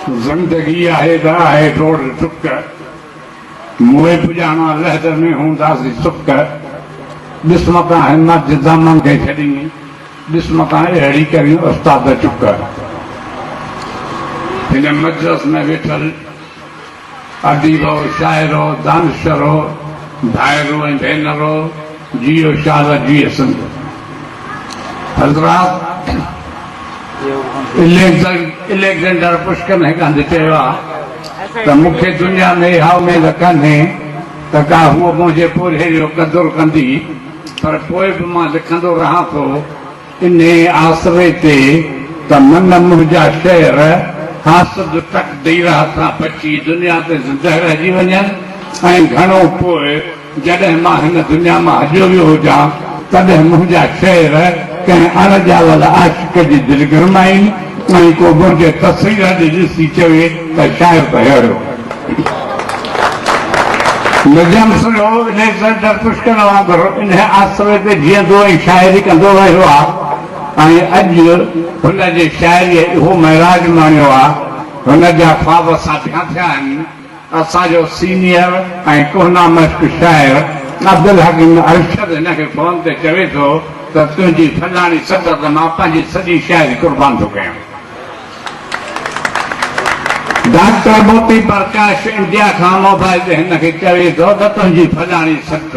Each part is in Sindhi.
زندگي آهي ته آهي ڊوڙ ڊڪ، موئي پڄاڻا لحد ۾ هونداسي سڪ، ڏس متان همت جي دامن کي ڇڏين، ڏس متان اهڙي ڪرين استاد چڪ. هن مجلس ۾ ويٺل. اديبو، شاعرو، دانشورو، ڀائرو ۽ ڀينرو، جيئو شال جيئي سنڌ. حضرات! اليگزينڊر پشڪن هڪ هنڌ چيو آهي ته مون کي دنيا ۾ اها اميد ڪانهي ته ڪا هوء منهنجي پورهيي جو قدر ڪندي پر پوء به مان لکندو رهان ٿو. انهيء آسري تي ته من منهنجا شعر حاسد تقدير هٿان بچي دنيا تي زندهه رهجي وڃن ۽ گهڻو پوء جڏهن مان هن دنيا مان هليو ويو هجان، تڏهن منهنجا شعر ڪنهن اڻ ڄاول عاشق جي دل گرمائين. ۽ ڪوبه جي تصوير اڄ ڏسي چوي ته شاعر ته ههڙيو نجم سنهو اليگزينڊر پشڪن وانگر انهي آسري تي جيئندو ۽ شاعري ڪندو رهيو آ ۽ اڄ هن جي شاعريء اهو معراج ماڻيو آ هن جا خواب ساڀيان ٿيا آهن. اسان جو سينيئر ۽ ڪهنا مشق شاعر عبدالحڪيم ارشد هن کي فون تي چوي ٿو ته تنهنجي فلاڻي سٽ تي مان پنهنجي سڄي شاعري قربان ٿو ڪيان. ڊاڪٽر موتي پرڪاش انڊيا کان موبائل تي هن کي چوي ٿو ته تنهنجي فلاڻي سٽ.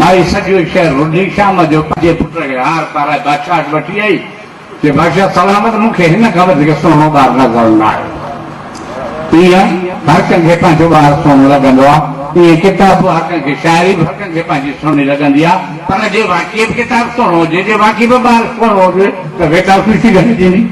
مائي سڄو شهر رڍي شام جو پنهنجي پٽ کي هار پارائي بادشاهه وٽ وٺي آئي چي بادشاهه سلامت مون کي هن کان وڌيڪ سهڻو ٻار نظر نه آيو آهي. ايئن هر ڪنهن کي پنهنجو ٻار سهڻو لڳندو آهي ايئن ڪتاب به هر ڪنهن کي شاعري به هر ڪنهن کي پنهنجي سهڻي لڳندي آهي پر جي واقعي به ڪتاب سهڻو هجي جي واقعي به ٻار سهڻو هجي ته ويٽا خوشي گهٽجي ني.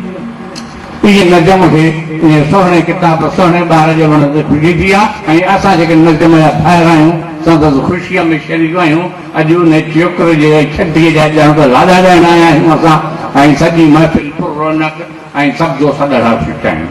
اهي نظم اهي ائين سهڻي ڪتاب سهڻي ٻار جي وڻ تي ڦلي ٿي آ ۽ اسان جيڪي نظم جا ڀائر آهيون سندس خوشيء ۾ شريڪ آهيون اڄ ان چيوڪر جي ۽ ڇٽيء جا ڄڻ ته لاڏا ڳائڻ آيا آهيون اسان ۽ سڄي محفل پر رونق ۽ سبزو سڏ لاء ڦٽ آهيون.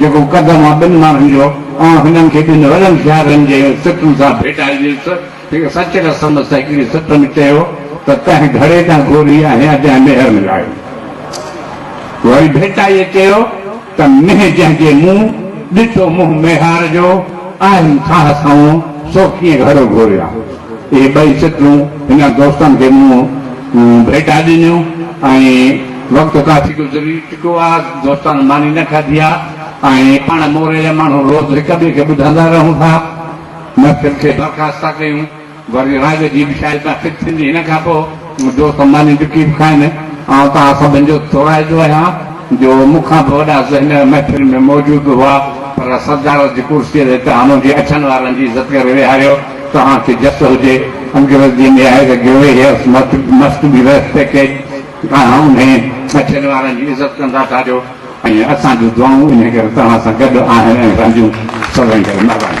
جيڪو قدم آ ٻن ماڻهن جو، آئون هنن کي ٻن وڏن شاعرن جي سٽن سان ڀيٽائجيس. هڪ سچ رسم سهڪڙي سٽ ۾ چيو ته تنهن گهڙي تان گوري آهيان جنهن مهر ۾ لاهيو. وري ڀيٽائيء چيو ته مينهن جنهن جي مون ڏٺو منهن ميهار جو، آهيم ساهه سنئون، سو ڪيئن گهڙو گهوريان. اهي ٻئي سٽون هن دوستن کي مون ڀيٽا ڏنيون ۽ وقت ڪافي گذري چڪو آ، دوستن ماني نه کاڌي آ ۽ پاڻ موري جا ماڻهو روز هڪ ٻئي کي ٻڌندا رهون ٿا. محفل کي برخاست ٿا ڪيون، وري راڳ جي به شايد محفل ٿيندي هن کان پوء. جو سماني ڏٺي به کائين نه. آئون توهان سڀن جو ٿورائتو آهيان جو مون کان به وڏا ذهن محفل ۾ موجود هئا پر صدارت جي ڪرسيء تي توهان منهنجي اڇن وارن جي عزت ڪري ويهاريو. توهان کي جس هجي. انگريز جي ۾ آهي ته grey hairs must be respected. توهان انهي اڇن وارن جي عزت ڪندا ٿا جو ۽ اسان جون دعائون انهي ڪري توهان سان گڏ آهن ۽ رهنديون. سڀني ڪري مهرباني.